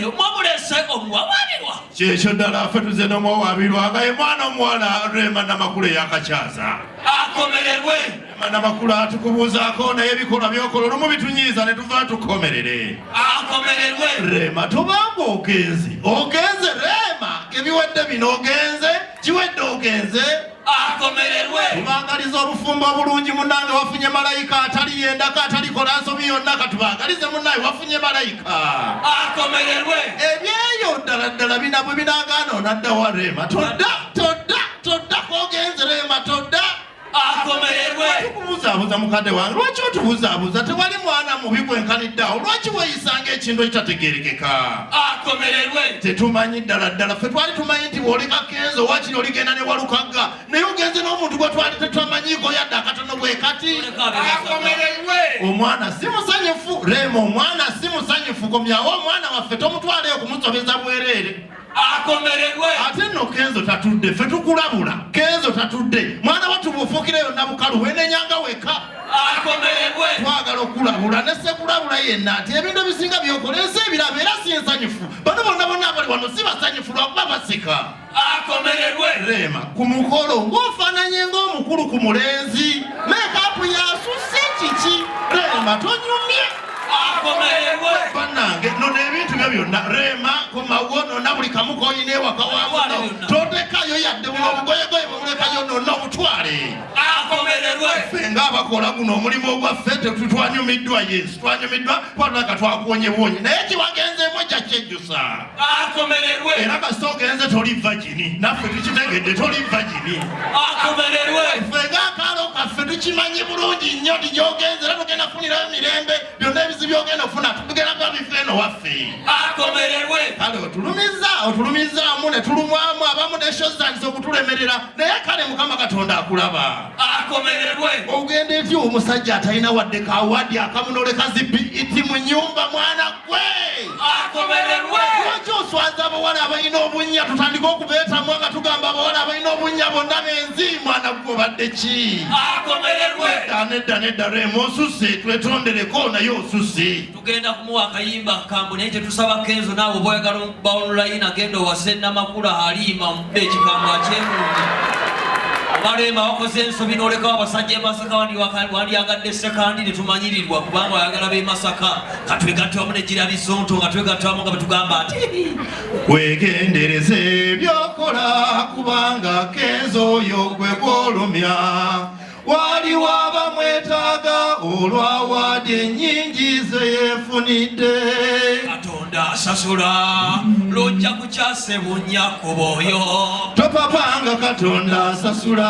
omwamulese omuwawaabirwa kyekyo ddala afe tuze n'omuwawaabirwa nga ye mwana omuwala rema namakulu eyakakyaza akomererwe rema namakulu atukubuuzaako naye ebikolwa byokola olumu bitunyiiza ne tuva tukomerere akomererwe rema tubanga ogenze ogenze rema ebiwedde bino ogenze kiwedde ogenze akomererwe tubagaliza obufumbo obulungi munange wafunye malayika atali yendako atalikola nsobi yonna katubagalize munaye wafunye malayika akomererwe ebyeyo ddala ddala binabwe binagaana onadda wa reema todda todda todda kogenze reema todda akomererwe buzaabuza mukadde wange lwaki otubuzaabuza tewali mwana mubi gwenkaniddeawo lwaki weyisanga ekintu ekitategerekeka akomererwe tetumanyi ddala ddala ffe twali tumanyi nti bwoli kakenzo wakiri oligenda ne walukagga naye ogenze n'omuntu gwe twali tetwamanyiiko yadde akatono bwe kati akomererwe omwana si musanyufu reema omwana si musanyufu komyawo omwana waffe tomutwaleyo kumusobeza bwereere akomererwe ate nno kenzo tatudde fe tukulabula kenzo tatudde mwana watu bufuukira yonna bukalu wenenyanga weka akomererwe twagala okulabula nesekulabula yenna nti ebintu ebisinga byokoleeza ebirabo era si ensanyufu bano bonna bonna abali wano si basanyufu lwakuba basika akomererwe rema ku mukolo ng'ofaananye ng'omukulu ku mulenzi mekapu yasusi kiki rema tonyumye banange nono ebintu byo byonna rema komawo nona buli kamu koyina ewaka wamuno totekayo yadde buno obugoyegoye bwemulekayo nona obutwale ffe nga abakola guno omulimu ogwaffe tetwanyumiddwa yesu twanyumiddwa kwatulaka twakuwonyebwonyi naye kiwagenzeemu ekyakyejjusa akomererwe era kasita ogenze toli vagini naffe tukitegedde toli vagini akomererwe ffe ngaakaalo kaffe tukimanyi bulungi nnyo ti gyogenze era tugenda kufunirayo emirembe byonna ebizi byogenda okufuna tugenda kuba bifa eno waffe akomererwe kale otulumiza otulumizaamu ne tulumwamu abamu neshozanisa okutulemerera naye kale mukama katonda akulaba akomererwe ogenda eti omusajja atalina wadde kawadi akamunoleka zibi iti mu nyumba mwana tuswaza abawala abalina obunnya tutandike okubeetamwa nga tugamba abawala abalina obunnya bonna benzi mwana gwe obadde ki nedda nedda remu osusse twetondereko naye osusse tugenda kumuwa akayimba kambu naye tetusaba kenzo naawe oba oyagala baonulayini agenda owase namakula aliima omudde ekigambo akyemulungi obalema wakoze ensobi nolekawo abasajja emasaka wandyagadde sekandi netumanyirirwa kubanga oyagala bemasaka nga twegatta wamu ne Girabizonto nga twegatta wamu nga betugamba nti wegendereze byokola kubanga kenzo oyo gwe gwolumya waliwo abamwetaaga olwawaadi ennyingi ze yeefunidde katonda asasula lujja kukyasebunnya ku booyo topapanga katonda asasula